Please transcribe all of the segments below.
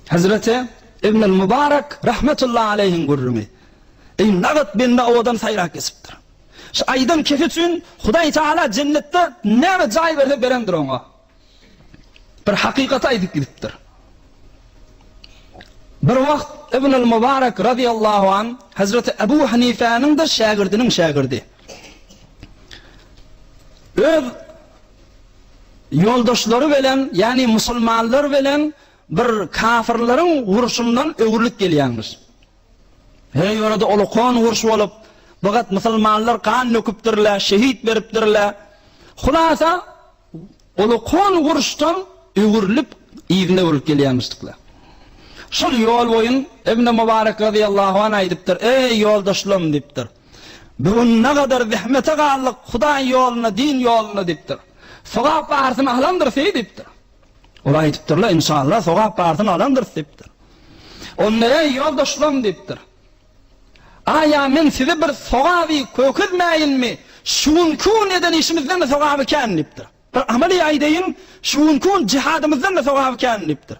Hezreti Ibnül Mübarek rahmetullahi aleyhin gürrüňi. Eý nagat bende owadan saýrak kesipdir. Şu aýdan kefi üçin Hudaý Taala jennetde näme jaý berse berendir oňa. Bir hakykaty aýdyp gidipdir. Bir wagt Ibnül Mübarek radiyallahu an Hezreti Ebu Hanifäniň de şägirdiniň şägirdi. Öz ýoldaşlary bilen, ýagny musulmanlar bilen bir kafirleriň urşundan öwrülip gelýärmiş. Her ýörede olakon urş bolup, bigat musulmanlar gan döküpdirler, şehit beripdirler. Hulasa, olakon urşdan öwrülip, yzyna öwrülip gelýärmişdikler. Şol ýol boýun Ibn Mubarek radiyallahu anh aýdypdyr, Eý ýoldaşlarym diýipdir. Bu gününe gadar zähmete galdyk, Hudaý ýoluna, din ýoluna diýipdir. Sogap barsyny alandyrys eý diýipdir. Ol aýdypdyr-la, Inşalla, sogap barsyny alandyrys diýipdir. Onda, eý, ýoldaşlarym diýipdir. Aýa men size bir sogaby kökezmäýinmi, şu günki gün eden işimizden-de sogaby kän diýipdir. Bir amaly aýdaýyn, şu günki gün jihadymyzdan-da sogaby kän diýipdir.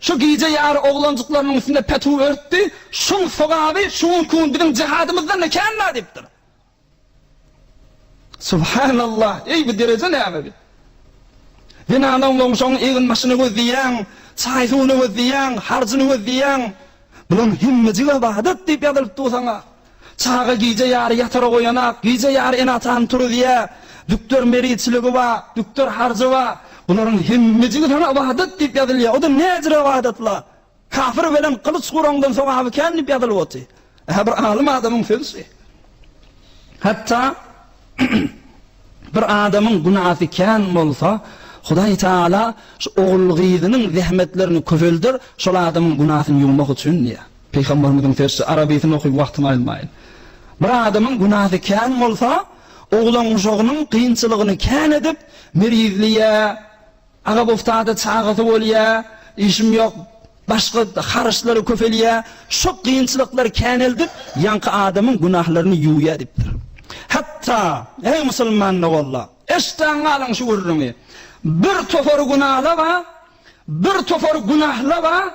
Şu gije ýary oglanjyklarynyň üstünde petuw örtdi, şuň sogaby şu gün kun biziň jihadymyzdan-da kän-la diýipdir. Subhanallah, eý bu dereje näme bi? Zenany oňlaň, şoň eginbaşyny gözleýäň, çaý-suwuny gözleýäň, harjyny gözleýäň. Bulaň hemmejigi ybadat diýip ýazylypdyr bu saňa. Çaga gije ýary ýatarak oýanak, gije ýary ene-atany turuzýa. Dükder meriçiligi ba, dükder harjy ba. Bularyň hemmejigi saňa ybadat diýip ýazylýa. O-da näjir ybadat-la. Kafir belen gylyç guraňdan sogaby kän diýip ýazylyp oty. Ä bir alym adamyň sözi şi. Hatda bir adamyň günasy kän bolsa, Hudaý Taala şu ogul-gyzynyň zähmetlerini köpelder, şol adamyň günasyny ýuwmak üçin diýýä. Pygamberimiziň sözçi Arabysyny okyp wagtyňy almaýyn. Bir adamyň günasy kän bolsa, oglan-uşagynyň kynçylygyny kän edip, mergizleýä, aga boftada çagasy bolýa, işim ýok, başga haryçlary köpelýä, şo kynçylyklary käneldip, ýaňky adamyň günahlaryny ýuwýa diýipdir. Hatda, eý musulman dogalla, eşdän galyň şu gürrüňi, Bir topar günalaba, bir topar günahlaba,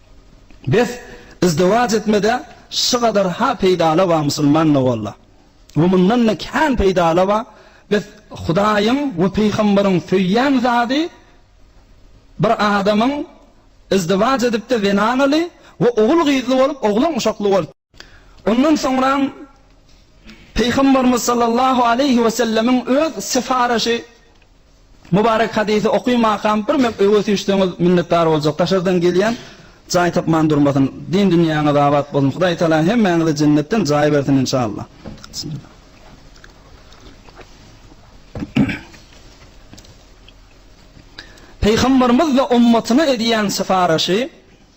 Bes izdiwac etmede şugadar ha peýdala ba musulman da bolla we mundan da kän peýdala ba bes hudaýyň we peýhamberiň söýýän zady bir adamyň izdiwac edipde zenanaly we ogul gyzly bolup oglan uşakly bolup Ondan soňram Pygamberimiz sallallahu aleýhi we sellemiň öz syparyşy Mubarek hadysy okymakam bir mep öwes düşseňiz minnetdar boljak daşardan gelýän jaý tapman durmasyn din dünýäňiz abat bolsun Hudaý taala hemmäňize jennetden jaý bersin inşallah Bismillah Pygamberimiz we ummatyna edýän syparyşy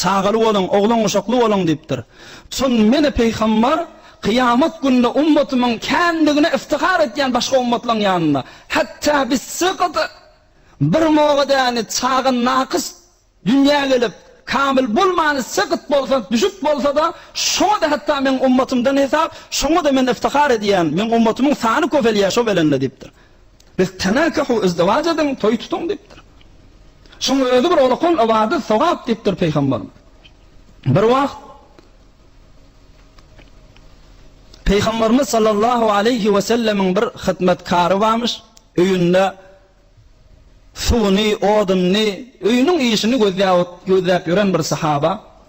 Çagaly boluň, oglan-guşakly boluň diýipdir. Çün Men-ä Pygambar kyýamat günde ummatymyň känligine iftihar etýän başga ummatlaryň ýanynda, Hatda biz sygady, bir moga däni çaga nakys dünýä gelip, kamyl bolmany sygyt bolsa, düşük bolsa-da, şoňa-da hatda meň ummatymdan hesap, şoňa-da Men iftihar edýän, meň ummatymyň sany köpelýär şo belende diýipdir. Biz tenakahu izdiwac ediň, toý tutuň diýipdir. Şuň özi bir olukon ybadat, sogap diýipdir Pygamberimiz. Bir wagt Pygamberimiz sallallahu aleýhi we sellemiň bir hyzmatkary barmyş, öýünde suwuny, odunyny, öýüniň işini gözläp ot, gözläp ýören bir sahaba.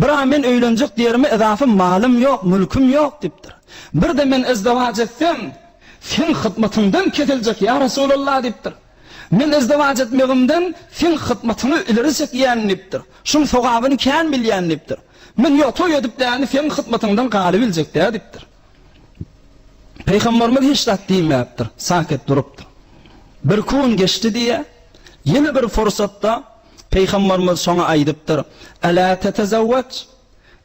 Bira men öýlenjek diýerime yzafy malym ýok, mülküm ýok diýipdir. Birde men izdiwaç etsem, seň hyzmatyňdan kesiljek, ýa Resulallah diýipdir. Men izdiwaç etmegimden seň hyzmatyňy ileri çekýän diýipdir. Şuň sogabyny kän bilýän diýipdir. Men ýok, toý edip däni seň hyzmatyňdan galybiljek dä diýipdir. Pygamberimiz hiç zat diýmäpdir, saket durupdyr. Bir kun geçdi diýýär. Ýene bir pursatda Pygamberimiz şoňa aýdypdyr, Elâ tetezewweç,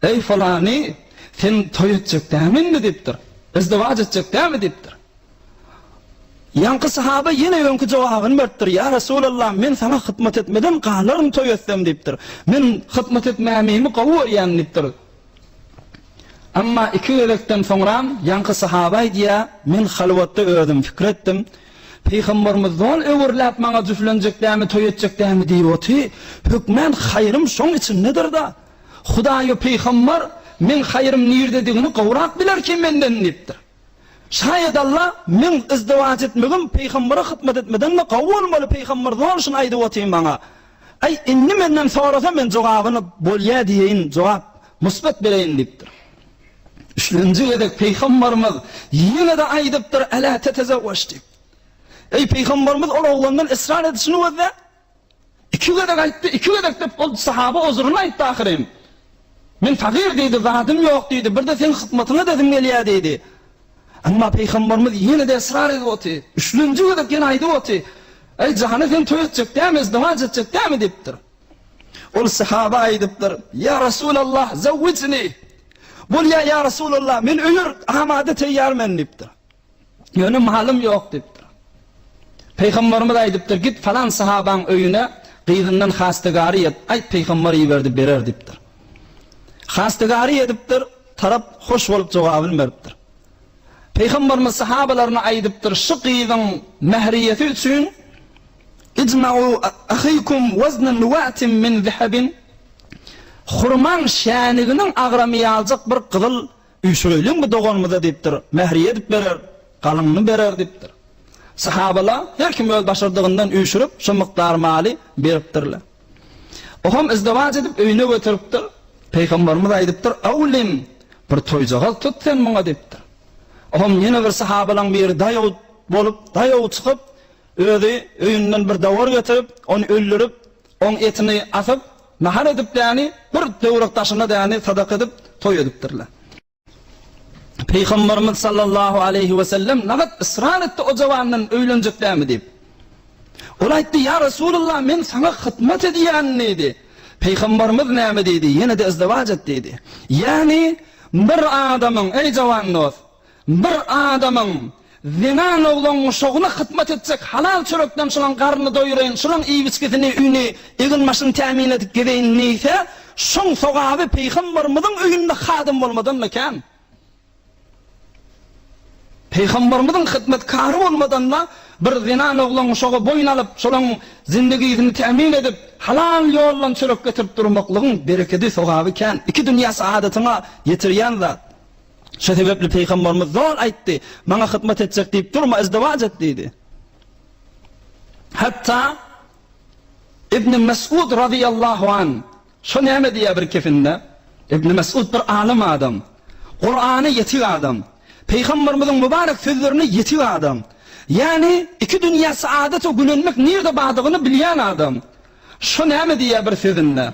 Eý fylany, sen toý etjek dämi indi diýipdir. Izdiwaç etjek dämi diýipdir. Ýaňky sahabe ýene öňki jogabyny beripdir, Ýa Resulallah, men saňa hytmat etmeden galaryn toý etsem diýipdir. Men hytmat etmämimi gowy görýän diýipdir. Emma iki gezekden soňram ýaňky sahabe aýdýar, Men halwatda özüm pikir etdim, Pygamberimiz doň öwürläp maňa jüflenjekdämi toý etjekdämi diýip oty, hökmän haýrym şoň içindedirda. Hudaý we pygamber meň haýrym nirdedigini gowrak bilerki menden diýipdir. Şaýat Alla meň yzdywaç etmegim pygambere hytmat etmeden-de gowy bolmaly pygamber doň şuny aýdyp oty maňa. Aý indi menden sorasa men jogabyny bolýa diýeýin jogap, musbat bereýin diýipdir. Üçünji gezek pygambarymyz ýene-de aýdypdyr, Elä tetezewweş diýip. Eý, pygambarymyz ol oglandan ysrar edişini gözle. Iki gezek aýtdy, iki gezek diýip, ol sahaba uzryny aýtdy ahyryn. Men fagyr diýdi, zadym ýok diýdi, birde seň hyzmatyňa edesim gelýär diýdi. Emma pygambarymyz ýene-de ysrar edip oty. Üçünji gezek ýene aýdyp oty. Eý, jany sen toý etjek dämi, izdiwaç etjek dämi diýipdir. Ol sahaba aýdypdyr, Ýa Resulallah, zawwijni! Bolýa, ýa Resulallah, men öýer, amada teýýar men diýipdir. Ýöne malym ýok diýipdir. Pygamberimiz aýdypdyr, Git falan sahabaň öýüne, gyzyndan hastagary et, aýt pygamber iberdi berer diýipdir. Hastagary edipdir, tarap hoş bolup jogabyny beripdir. Pygamberimiz sahabalaryna aýdypdyr, Şu gyzyň mähriýeti üçin Ijma'u ahykum wezne nuwatin min zehebin, Hurmaň şäniginiň agramy ýaljak bir gyzyl üýşüreýliň bu doganymyza diýipdir. Mähri edip berer, galynyny berer diýipdir. Sahabalar her kim öz başardygyndan üýşürip, şo mukdar maly beripdirler. Ohem izdewaç edip öýüne göteripdir. Pygamberimiz aýdypdyr, Awlim, bir toýjagaz tut sen muňa diýipdir. Ohem ýene bir sahabalaň biri daýaw bolup, daýaw çykyp, Özi öýünden bir dowar getirip, ony öldürip, oň etini asyp, nahar edipdäni, bir töwrek daşyna däni sadaka edip, toý edipdirler. Pygamberimiz sallallahu aleýhi wesellem nagat ysrar etdi o jawandan öýlenjekdämi diýip. Ol aýtdy, Ýa Resulullah, men saňa hyzmat edýän diýdi. Pygamberimiz näme diýdi? Ýene-de izdiwac et diýdi. Ýagny, bir adamyň, eý jawan dost, Bir adamyň zenan oglan guşagyna hyzmat etjek, halal çörekden şolaň garnyny doýuraýyn, şolaň iýip-içgisini, üýni, egin-başyny tämin edip gezeýin diýse, şoň sogaby Pygamberimiziň öýünde hadym bolmadan-da kän. Pygamberimiziň hyzmatkary bolmadan-da bir zenan oglan guşagy boýun alyp, şolaň zindigisini tämin edip, halal ýoldan çörek getirip durmaklygyň berekedi, sogaby kän. Iki dünýä saadatyňa ýetirýän zat. Şo sebäpli Pygamberimiz zor aýtdy, Maňa hyzmat etjek diýip durma, izdiwaç et diýdi. Hatda Ibn Mes'ud razyýallahu an şo näme diýýär bir kefinde? Ibn Mes'ud bir alym adam, Kur'any ýetik adam, Pygamberimiziň mübarek sözlerini ýetik adam. Ýagny iki dünýä saadata gülenmek nirde bardygyny bilýän adam. Şo näme diýýär bir sözünde?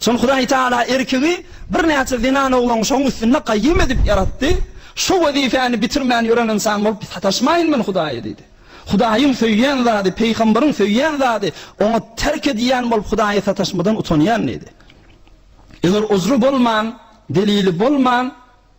Soň Hudaý Tagala erkegi birnäçe zenan oglan şoň üstünde gaýym edip ýaratdy. Şu wezipäni bitirmän ýören ynsan bolup sataşmaýyn men Hudaýa diýdi. Hudaýyň söýýän zady, pygamberiň söýýän zady, oňa terk edýän bolup Hudaýa sataşmadan utanýan diýdi. Eger uzry bolman, delili bolman,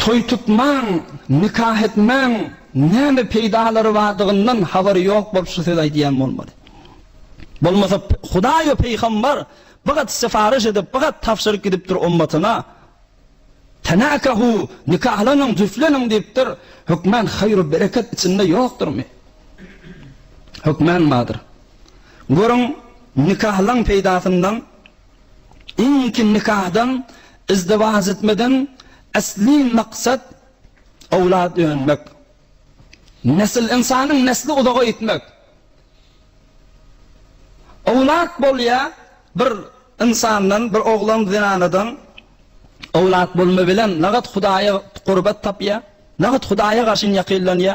Toý tutmaň, nikah etmäň näme peýdalary bardygyndan habary ýok bolup şu sözi aýdýan bolmaly. Bolmasa Hudaý we Peýgamber bigat syfaryş edip, bigat tabşyryk gidipdir ummatyna, Tenakahu, nikahlanyň, jüftleniň diýipdir, hökmän haýru bereket içinde ýokdurmy? Hökmän bardyr. Görüň, nikahlaň peýdasyndan Indiki nikadan, izdiwaç etmeden esli maksat owlad önmek. Nesil, ynsanyň nesli uzaga gitmek. Owlad bolýa bir ynsandan, bir oglan zenanadan owlad bolma bilen, nagat Hudaýa gurbat tapýa, nagat Hudaýa garşy ýakynlanýa.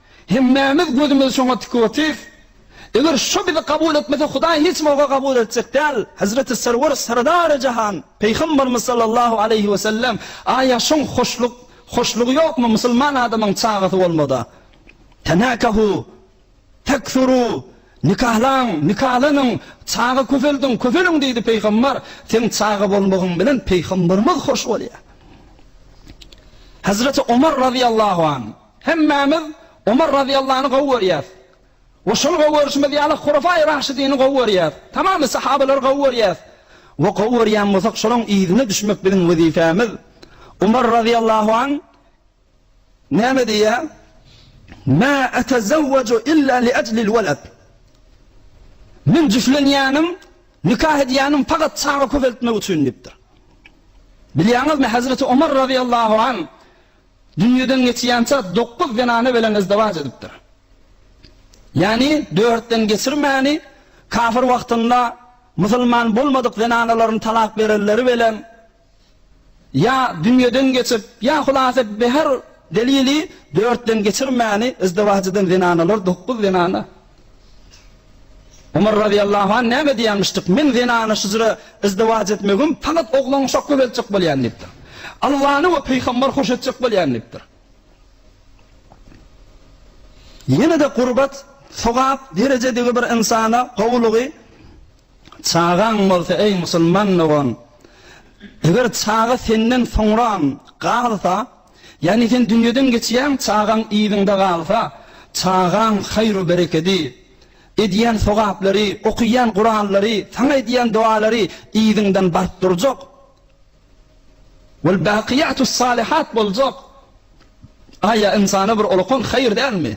Hemmämiz gözümizi şoňa tikip otyrys. Eger şo bizi kabul etmese Hudaý hiç bolsa kabul etjek däl. Hezreti Serwer Serdary Jahan Pygambarymyz sallallahu aleýhi we sellem Aýa şoň hoşluk hoşlugy ýokmy musulman adamyň çagasy bolmada. Tenakahu, Tekthuru, Nikahlaň, nikalanyň, çaga köpeldiň, köpeliň diýdi Pygambar, seň çaga bolmagyň bilen Pygambarymyz hoş bolýar. Hezreti Omar razyýallahu anh. Hemmämiz Omar razyýallany gowy görýäs we şony gowy görşümiz ýaly Hulafaýy Raşidini gowy görýäs. Tamamy sahabalary gowy görýäs we gowy görýän bolsak şolaryň yzyna düşmek biziň wezipemiz. Omar razyýallahu an näme diýýär? Mä etezewweju illa li ajlil walad. Men jüflenýänim, nikah edýänim fakat çaga köpeltmek üçin diýipdir. Bilýäňizmi Hazreti Omar razyýallahu an Dünýeden geçýänçä dokuz zenana bilen yzdiwaç edipdir. Ýagny dörtden geçirmäni kafir wagtynda musulman bolmadyk zenanalaryny talak berenleri bilen ýa dünýeden geçip, ýa hulasa bir her delili dörtden geçirmäni yzdiwaç eden zenanalar dokuz zenana Omar razyýallahu anh näme diýýänmişdik, Men zenana şüjre, yzdiwaç, etmegim, faghat oglan uşak göbeltjek bolýan diýipdir. Allany we Pygambar hoş etjek bolýan diýipdir. Ýene-de gurbat, sogap, derejedigi bir ynsana gowulygy, Çagaň bolsa, eý musulman dogan, eger çaga senden soňram galsa, Ýagny sen dünýeden geçýäň, çagaň yzyňda galsa, çagaň haýru-berekedi, edýän sogaplary, okaýan Kuranlary, saňa edýän dowalary yzyňdan baryp durjak. Wal-bakyýatus-salyhat boljak. Aý, ýa ynsana bir olakan haýyr dälmi?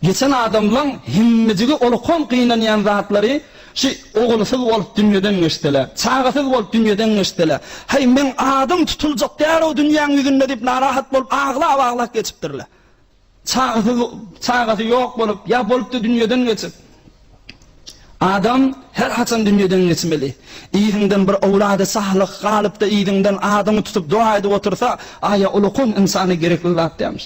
Geçen adamlaň hemmejigi olkom gynanýan zatlary şu ogulsyz bolup dünýeden geçsele, çagasyz bolup dünýeden geçsele, heý meň adym tutuljak däl-ow dünýäň ýüzünde diýip narahat bolup aglap-aglap geçipdirle. Çagasyz çagasy ýok bolup ýa bolupdy dünýeden geçip. Adam her haçan dünýeden geçmeli. Yzyňdan bir owlady salyh galypda yzyňdan adyňy tutup doga edip otursa aýa olkom ynsana gerekli zat dälmiş.